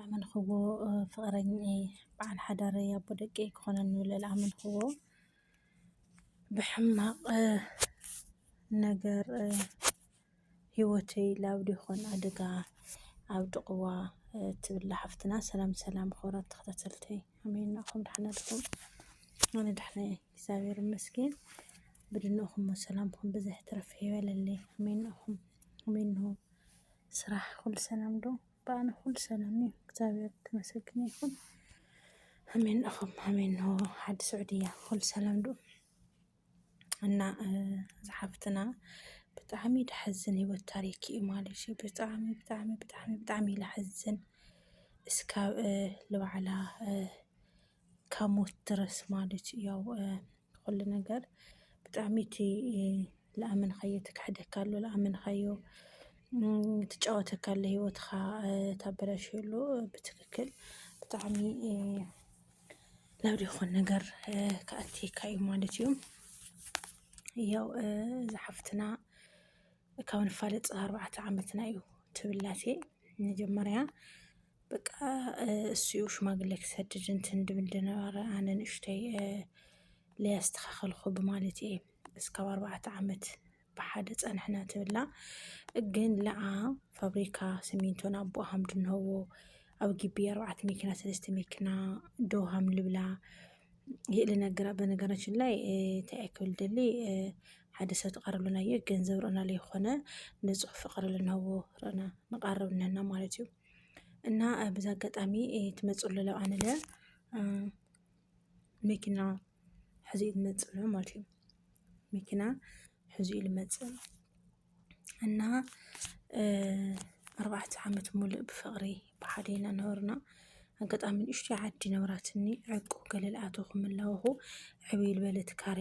ኣመንክዎ ፍቅረኝኤ በዓል ሓዳረይ ኣቦ ደቀይ ክኾነኒ ብለል ኣመንክዎ ብሕማቅ ነገር ሂወተይ ላብዲ ይኾን ኣደጋ ኣብ ድቅዋ ትብላ ሓፍትና ሰላም ሰላም ክቡራት ተኸታተልተይ ኣሜን ናኣኹም ዳሓን ኣልኹም ኣነ ዳሓን ኣየ እግዚኣብሔር ይመስገን ብድንኹም ሰላምኹም ብዘሕ ትረፍ ይበለለይ ኣሜን ናኣኹም ኣሜን ንሆ ስራሕ ኩሉ ሰላም ዶ ባኣና ኩሉ ሰላም እዩ እግዚኣብሔር ተመሰገነ ይኩን ኣሜን እኹም ኣሜን ኖ ሓዲ ስዑድያ ኩሉ ሰላም ዶ እና ዝሓፍትና ብጣዕሚ ድሐዝን ህይወት ታሪክ እዩ ማለት እዩ ብጣዕሚ ብጣዕሚ ብጣዕሚ ብጣዕሚ እዩ ዝሐዝን እስካብ ልባዕላ ካብ ሞት ድረስ ማለት እዩ ያው ኩሉ ነገር ብጣዕሚ እቲ ልኣመንካዮ እቲ ክሕደካ ኣሎ ልኣመንካዮ ትጫወተካ ኣሎ ሂወትካ ተበላሽዮ ኣሎ ብትክክል ብጣዕሚ ናብ ዘይኮነ ነገር ክኣትየካ እዩ ማለት እዩ። ያው እዛ ሓፍትና ካብ ንፋለጥ ኣርባዕተ ዓመትና እዩ ትብል ኣሴ መጀመርያ በቃ እሱ እዩ ሽማግሌ ክሰድድ እንትን ድብል ድነበረ ኣነ ንእሽተይ ለያስተኻኸልኹ ብማለት እየ እስካብ ኣርባዕተ ዓመት ብሓደ ፀንሕና ትብላ ግን ለኣ ፋብሪካ ስሚንቶን ኣቦ ሃም ድንሀዎ ኣብ ግቢ ኣርባዕተ መኪና ሰለስተ መኪና ዶ ሃም ልብላ ይእሊ ነገራ በነገራችን ላይ እንታይ ክብል ደሊ ሓደ ሰብ ተቐርብልና እየ ገንዘብ ርዕና ለይኾነ ንፁህ ፍቕሪ ልንሀዎ ርዕና ንቐርብ ነና ማለት እዩ እና በዚ ኣጋጣሚ ትመፅኡ ለለው ኣነ ለ መኪና ሕዚ እዩ ዝመፅእ ዘሎ ማለት እዩ። መኪና ሕዚ እዩ ዝመፅእ እና ኣርባዕተ ዓመት ሙሉእ ብፍቅሪ ብሓደ ኢና ነበርና። ኣጋጣሚ ንእሽተይ ዓዲ ነበራትኒ ዕርቁ ገለ ልኣተኹም ኣለኹ ዕብይ ልበለት ካሬ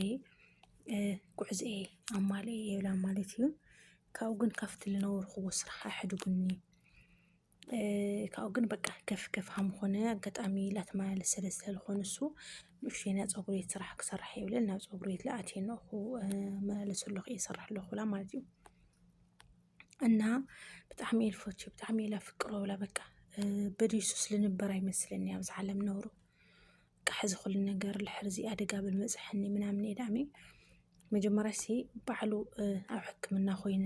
ጉዕዘኤ ኣማልኤ የብላን ማለት እዩ። ካብኡ ግን ካብቲ ልነበርኹዎ ስራሕ ኣሕድጉኒ። ካብኡ ግን በቃ ከፍ ከፍ ሃም ኾነ ኣጋጣሚ ላተመላለስ ስለ ስለልኾነ እሱ ንእሽተይ ናይ ፀጉሪ ቤት ስራሕ ክሰርሕ እየ ብለን ናብ ፀጉሪ ቤት ለኣትየ ነኹ መላለስ ኣለኹ እየ ስራሕ ኣለኹ ብላ ማለት እዩ እና ብጣዕሚ እየ ልፈቱ ብጣዕሚ እየ ላፍቅሮ ብላ በቃ በድሱስ ልንበር ኣይመስለኒ ኣብዚ ዓለም ነብሩ በቃ ሕዚ ኩሉ ነገር ልሕርዚ ኣደጋ ብልመፅሐኒ ምናምን እየ ዳኣሚ መጀመሪያ ሲ ባዕሉ ኣብ ሕክምና ኮይነ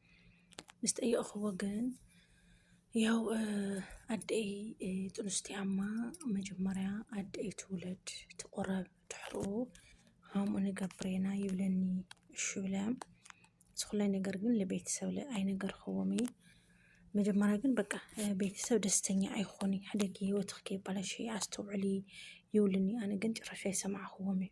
ምስ ጠየቕኹዎ ግን ያው ኣደይ ጥኑስ እያ እሞ መጀመርያ ኣደይ ትውለድ ትቑረብ ድሕሩ ሃሙ ንገብሬና ይብለኒ እሺ ብለ ዝኹለ ነገር ግን ለቤተሰብ ኣይነገርኹዎም እየ መጀመርያ ግን በቃ ቤተሰብ ደስተኛ ኣይኾኑ ሕደጊ ህይወትኽ ከይባላሽ ኣስተውዕሊ ይብሉኒ ኣነ ግን ጭራሽ ኣይሰማዕኹዎም እየ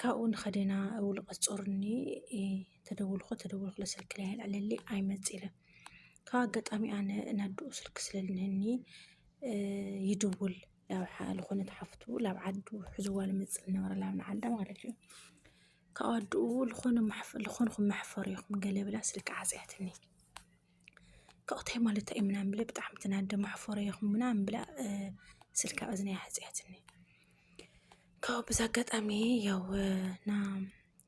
ካብኡ ንኸደና ውልቀ ጾር እኒ ተደውልኹ ተደውልኹ ለስልክ ላይ ኣልዕለሊ ኣይመጽእ ኢለን ካብ ኣጋጣሚ ኣነ ናድኡ ስልክ ስለልንህኒ ይድውል ላብ ልኾነት ሓፍቱ ላብ ዓዱ ሕዝዋ ልመጽእ ልነበረ ላብ ንዓዳ ማለት እዩ ካብ ኣድኡ ልኾንኹም መሕፈር ኢኹም ገለ ብላ ስልኪ ዓጽያትኒ። ካብኡታይ ማለት እዩ ምናምን ብለ ብጣዕሚ ተናደ መሕፈሮ ይኹም ምናምን ብላ ስልካ እዝነይ ሓፂኣትኒ ካብኡ ብዛ ኣጋጣሚ ያው ና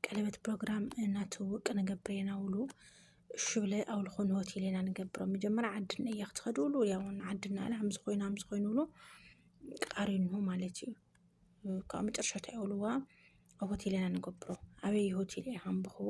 ቀለበት ፕሮግራም እናትውውቅ ንገብር ኢና ውሉ እሹ ብለ ኣብ ዝኾኑ ሆቴል ኢና ንገብሮ መጀመርያ ዓድና እያ ክትኸዱ ውሉ ያው ዓድና ላ ሃምዚ ኮይኑ ሃምዚ ኮይኑ ውሉ ቃሪኑ ማለት እዩ ካብ መጨረሻ እንታይ ውልዋ ኣብ ሆቴል ኢና ንገብሮ ኣበይ ሆቴል እያ ሃምብኽዎ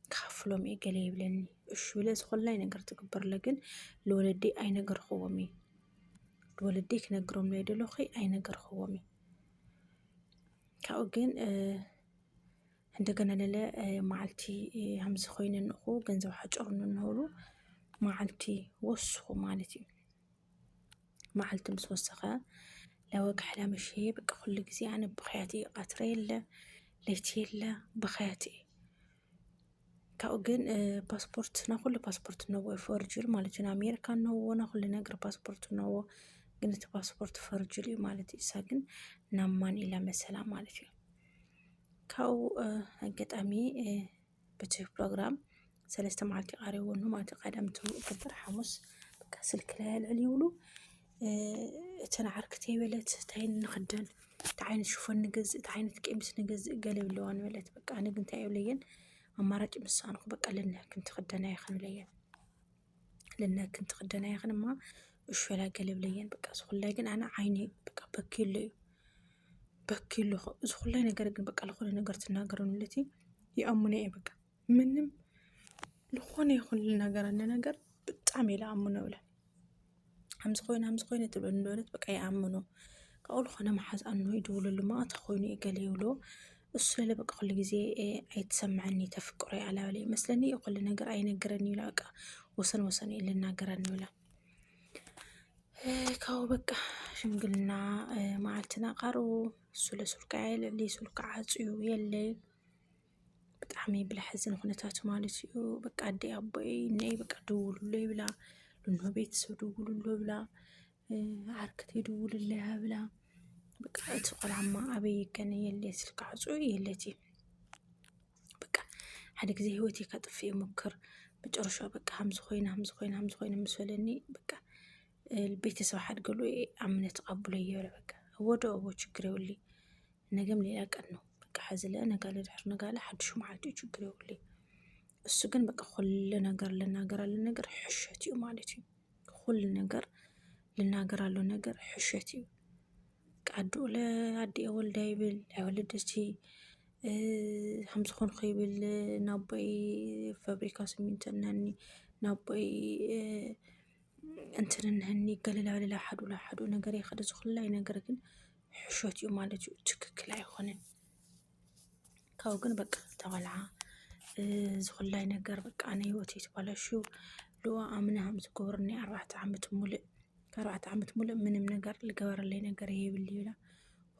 ክኸፍሎም እየ ገለ ይብለኒ እሹ ብለ ዝኾላይ ነገር ትግበርለ ግን ልወለዲ ኣይነገርኽዎም እዩ ልወለዲ ክነግሮም ናይ ደለኹ ኣይነገርኽዎም እዩ ካብኡ ግን እንደገና ለለ መዓልቲ ሃምዚ ኮይነ ንኹ ገንዘብ ሓጨሩ ንንህሉ መዓልቲ ወስኹ ማለት እዩ መዓልቲ ምስ ወሰኸ ለወግሐላ ምሽዬ በቃ ኩሉ ጊዜ ኣነ ብኽያት እየ ቀትሪ የለ ለይቲ የለ ብኽያት እየ ካብኡ ግን ፓስፖርት ናብ ኩሉ ፓስፖርት እነዎ ፈርጁል ማለት እዩ ንኣሜሪካ እነዎ ናብ ኩሉ ነገር ፓስፖርት እነዎ ግን እቲ ፓስፖርት ፈርጁል እዩ ማለት እዩ እሳ ግን ናብ ማን ኢላ መሰላ ማለት እዩ ካብኡ ኣጋጣሚ በቲ ፕሮግራም ሰለስተ መዓልቲ እዩ ቀሪቡ እሞ ማለት እዩ ቀዳም ፍጥር ሓሙስ በቃ ስልኪ ላይ ኣልዕል ይብሉ እተን ዓርክተይ በለት እንታይ ንኽደን እንታይ ዓይነት ሽፎን ንገዝእ እንታይ ዓይነት ቀሚስ ንገዝእ ገለ ይብለዋን በለት በቃ እነ ግን እንታይ እብለየን ኣማራጭ ምሳኣንኩ በቃ ለናክን ትኽደና ይኽን እብለየን ልነ ክንት ክደና ይኽን እማ እሾላ ገለብለየን በቃ ዝኹላይ ግን ኣነ ዓይኒ በቃ በኪሉ እዩ በኪሉ ዝኹላይ ነገር ግን በቃ ዝኾነ ነገር ትናገር ንለቲ ይኣምነ እየ በቃ ምንም ዝኾነ ይኹን ልናገር ኣነ ነገር ብጣዕሚ ኢለ ኣምኖ ብለን ኣምዚ ኮይኑ ኣምዚ ኮይኑ ትብል ነበረት በቃ ይኣምኑ ካብኡ ልኾነ መሓዝ ኣኖ ይድውሉሉ ማእት ኾይኑ ገለ ይብሎ እሱ ለለ በቃ ኹሉ ጊዜ ኣይትሰምዐኒ ተፍቅሮ ኣላበለ ይመስለኒ ኹሉ ነገር ኣይነገረኒ ይብላ በቃ ወሰን ወሰን እዩ ልናገረኒ ይብላ ካብኡ በቃ ሽምግልና መዓልትና ቃርቡ እሱ ለሱልካ የለ ለሱልካ ዓፅዩ የለይ ብጣዕሚ ብላሕ ዝን ኹነታት ማለት እዩ በቃ ኣደይ ኣቦይ ነይ በቃ ደውሉሎ ይብላ ልኖ ቤተሰብ ደውሉሎ ይብላ ዓርክተይ ደውልለይ ይብላ በቃ እቲ ቆልዓማ ኣበይ ይገነ የለ ስልኪ ዓፁ የለት እዩ በቃ ሓደ ግዜ ህይወት ከጥፍ ይሙክር መጨረሻ በቃ ሃምዚ ኮይነ ሃምዚ ኮይነ ሃምዚ ኮይነ ምስ በለኒ በቃ ቤተሰብ ሓድገሉ አምነ ተቀብሎ እየለ በቃ ወደ ኦቦ ችግር የውል ነገም ሌላ ቀን ነው በቃ ሐዝለ ነጋ ለዳር ነጋ ላይ ሓድሹ መዓልቲ እዩ ችግር የውል እሱ ግን በቃ ኩሉ ነገር ልናገር አለ ነገር ሕሸት እዩ ማለት እዩ ኩሉ ነገር ልናገር አለው ነገር ሕሸት እዩ ቃዱ ለአዲ ወልዳ ይብል ኣይወለደቲ ከምዝኾን ይብል ናቦይ ፋብሪካ ስሚንቶ ናኒ ናቦይ እንትን እንሀኒ ገለላውለላ ሓዱ ንሓዱ ነገር የኸደ ዝኹላይ ነገር ግን ሕሾት እዩ ማለት እዩ። ትክክል ኣይኾነን። ካብኡ ግን በቃ ተባልዓ ዝኹላይ ነገር በቃ ናይ ህይወት የተባላሹ ልዋ ኣምናሃም ዝገብሩኒ ኣርባዕተ ዓመት ሙሉእ ኣርባዕተ ዓመት ሙሉእ ምንም ነገር ልገበረለይ ነገር የብል ይብላ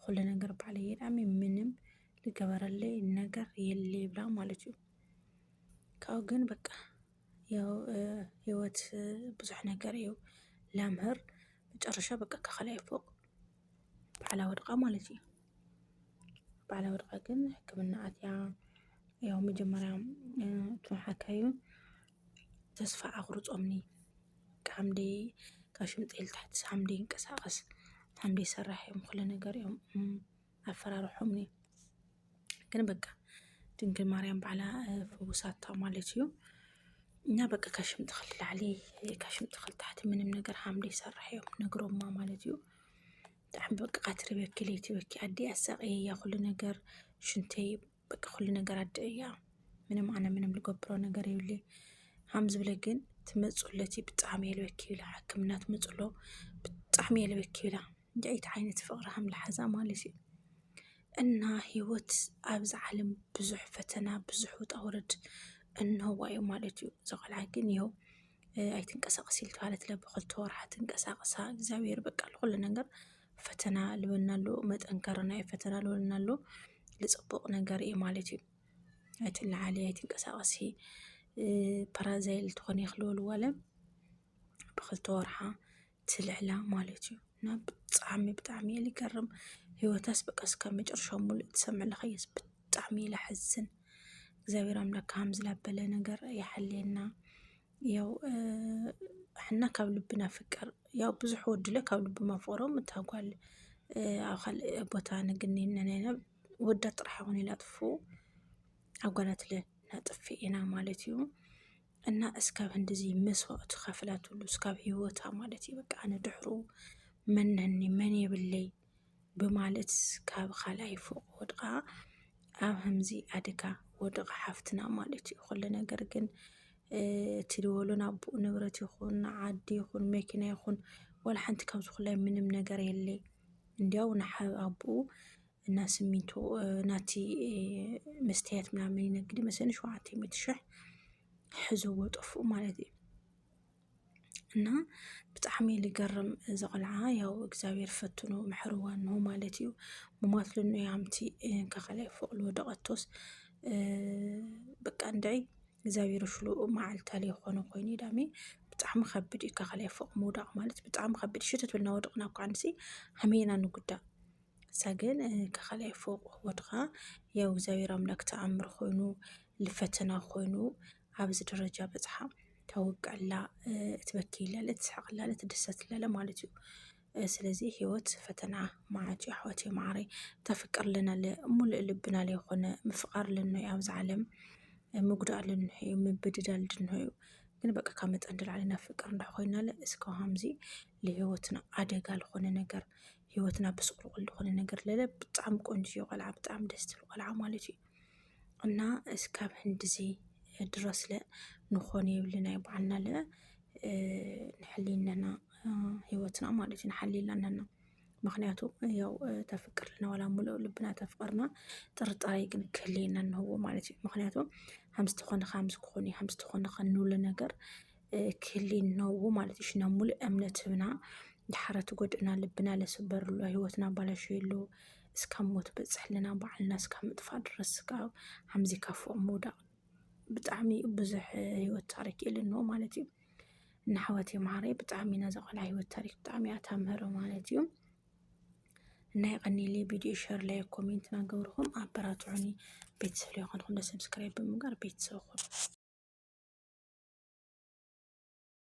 ኩሉ ነገር ባዕለ የዳሚ ምንም ልገበረለይ ነገር የለ ይብላ ማለት እዩ። ካብኡ ግን በቃ ያው ህይወት ብዙሕ ነገር እዩ ለምህር መጨረሻ በቃ ከካልኣይ ፎቅ ባዕላ ወድቃ ማለት እዩ። ባዕላ ወድቃ ግን ሕክምና ኣትያ ያው መጀመርያ እቶም ሓካዩ ተስፋ ኣቁርፆምኒ ሓምሊ ካብ ሽምጥል ትሕቲ ሓምሊ ይንቀሳቀስ ሓምሊ ይሰራሕ እዮም ኩሉ ነገር እዮም። ኣፈራርሖምኒ ግን በቃ ድንግል ማርያም ባዕላ ፈውሳታ ማለት እዩ። እና በቃ ካብ ሽም ተኽል ላዕሊ ካብ ሽም ተኽል ታሕቲ ምንም ነገር ሓምሊ ይሰርሕ እዮም ነግሮማ ማለት እዩ። ብጣዕሚ በቃ ቀትሪ በኪ ለይቲ በኪ ኣዲ ኣሳቀየያ ኩሉ ነገር ሽንተይ በቃ ኩሉ ነገር ኣደ እያ ምንም ኣነ ምንም ልገብሮ ነገር የብለ ሃም ዝብለ ግን ትመፁለቲ ብጣዕሚ የልበኪ ይብላ ሕክምና ትመፁሎ ብጣዕሚ የልበኪ ይብላ እንዲዒት ዓይነት ፍቅሪ ሃም ልሓዛ ማለት እዩ እና ህይወት ኣብዚ ዓለም ብዙሕ ፈተና ብዙሕ ውጣ ውረድ እንሆዋ እዩ ማለት እዩ ዘቆልዓ ግን ይኸው ኣይትንቀሳቀስ ኢልትባለት ለብክልተ ወርሓ ትንቀሳቀሳ እግዚኣብሔር በቃ ልኩሉ ነገር ፈተና ልበና ኣሎ መጠንከሪ ናይ ፈተና ልበና ኣሎ ልፅቡቅ ነገር እዩ ማለት እዩ። ኣይትለዓሊ ኣይትንቀሳቀሲ ፓራዛይል ትኾኒ ክልበልዋ ለ ብክልተ ወርሓ ትልዕላ ማለት እዩ እና ብጣዕሚ ብጣዕሚ እየ ልገርም ህይወታስ በቃ እስካብ መጨረሻ ሙሉእ ትሰምዕ ለኸየስ ብጣዕሚ እዩ ለሐዝን እግዚኣብሔር ኣምላክ ከምዚ ላበለ ነገር ይሓልየና። ያው ሕና ካብ ልቢ ናፍቅር ያው ብዙሕ ወድለ ካብ ልቢ ማፍቅሮም እታ ጓል ኣብ ካልእ ቦታ ንግኒነ ነና ወዳ ጥራሕ ይኹን ኢላ ጥፉ ኣብ ጓላትለ ነጥፊ ኢና ማለት እዩ እና እስካብ ህንድዚ መስዋእቱ ከፍላትሉ እስካብ ህይወታ ማለት እዩ በቃ ኣነ ድሕሩ መነኒ መን የብለይ ብማለት ካብ ካልኣይ ፎቕ ወድቓ ኣብ ከምዚ ኣደጋ ወድቓ ሓፍትና ማለት እዩ። ኩሉ ነገር ግን እቲ ድበሎ ናብኡ ንብረት ይኹን ዓዲ ይኹን መኪና ይኹን ወላ ሓንቲ ካብዚ ኩላይ ምንም ነገር የለይ። እንዲያው ንሓው ኣቡኡ እና ስሚንቶ ናቲ መስትያት ምናምን ይነግድ መሰለኝ ሸውዓተ ሚእቲ ሽሕ ሕዘዎ ጠፍኡ ማለት እዩ። እና ብጣዕሚ እዩ ዝገርም እዚ ቆልዓ ያው እግዚኣብሔር ፈትኑ መሐርዋ እኖ ማለት እዩ ሙማት ልኖ ያምቲ እንካ ካልኣይ ፎቅ ልወደቀቶስ በቃ እንድዒ እግዚኣብሔር ሽሉ መዓልታ ለይኾነ ኮይኑ ዳሜ ብጣዕሚ ከብድ እዩ ካብ ካልኣይ ፎቅ ምውዳቅ ማለት ብጣዕሚ ከብድ እዩ ሽትት ኢልና ወድቅና እኮ ንሕና ከመይ ኢና ንጉዳእ እሳ ግን ካብ ካልኣይ ፎቅ ወድቃ ያው እግዚኣብሔር ኣምላክ ተኣምር ኮይኑ ፈተና ኮይኑ ኣብዚ ደረጃ በፅሓ ተወቀላ እትበክይለለ እትስሕቅለለ እትድሰትለለ ማለት እዩ ስለዚ ህይወት ፈተና መዓት እዩ ኣሕዋት ማዓረ ተፍቅር ለናለ ሙሉእ ልብና ለይኮነ ምፍቃር ለኖ እዩ ኣብዚ ዓለም ምጉዳእ ለኖ እዩ ምብድዳል ድኖ እዩ ግን በቃ ካብ መጠን ንላዕሊ ናብ ፍቅር እንዳኮይናለ እስከ ከምዚ ንህይወትና ኣደጋ ልኮነ ነገር ህይወትና ብስቁልቁል ልኮነ ነገር ለለ ብጣዕሚ ቆንጆ ቆልዓ ብጣዕሚ ደስ ትብል ቆልዓ ማለት እዩ። እና እስካብ ህንድዚ ድረስለ ንኾን የብልናይ በዓልናለ ንሕሊነና ህይወትና ማለት እዩ ንሓልየላ ኣለና። ምክንያቱ ያው ተፍቅርልና ዋላ ሙሉእ ልብና ተፍቅርና ጥርጣሬ ግን ክህልየና እንህዎ ማለት እዩ። ምክንያቱ ሃምስ ተኾነ ሃምስ ክኾን እዩ ሃምስ ተኾነ ከንብሎ ነገር ክህሊ እነዎ ማለት እዩ። ሽና ሙሉእ እምነት ህብና ድሓረ ትጎድእና ልብና ለስበርሉ ህይወትና ኣባላሸየሉ እስካብ ሞት በፅሕልና ባዕልና እስካብ ምጥፋእ ድረስ እስካብ ሓምዚ ካብ ፎቅ ምውዳቅ ብጣዕሚ እዩ ብዙሕ ህይወት ታሪክ እዩ ልኖ ማለት እዩ እና ኣሕዋት የምሃረይ ብጣዕሚ ኢና ዘቆልዓ ህይወት ታሪክ ብጣዕሚ እያ ተምህሮ ማለት እዩ እና የቀኒሊ ቪድዮ ሸር ላይ ኮሜንት ናገብርኹም ኣበራትዑኒ ቤተሰብ ላይ ኮንኩም ሰብስክራይብ ብምግባር ቤተሰብ ኹኑ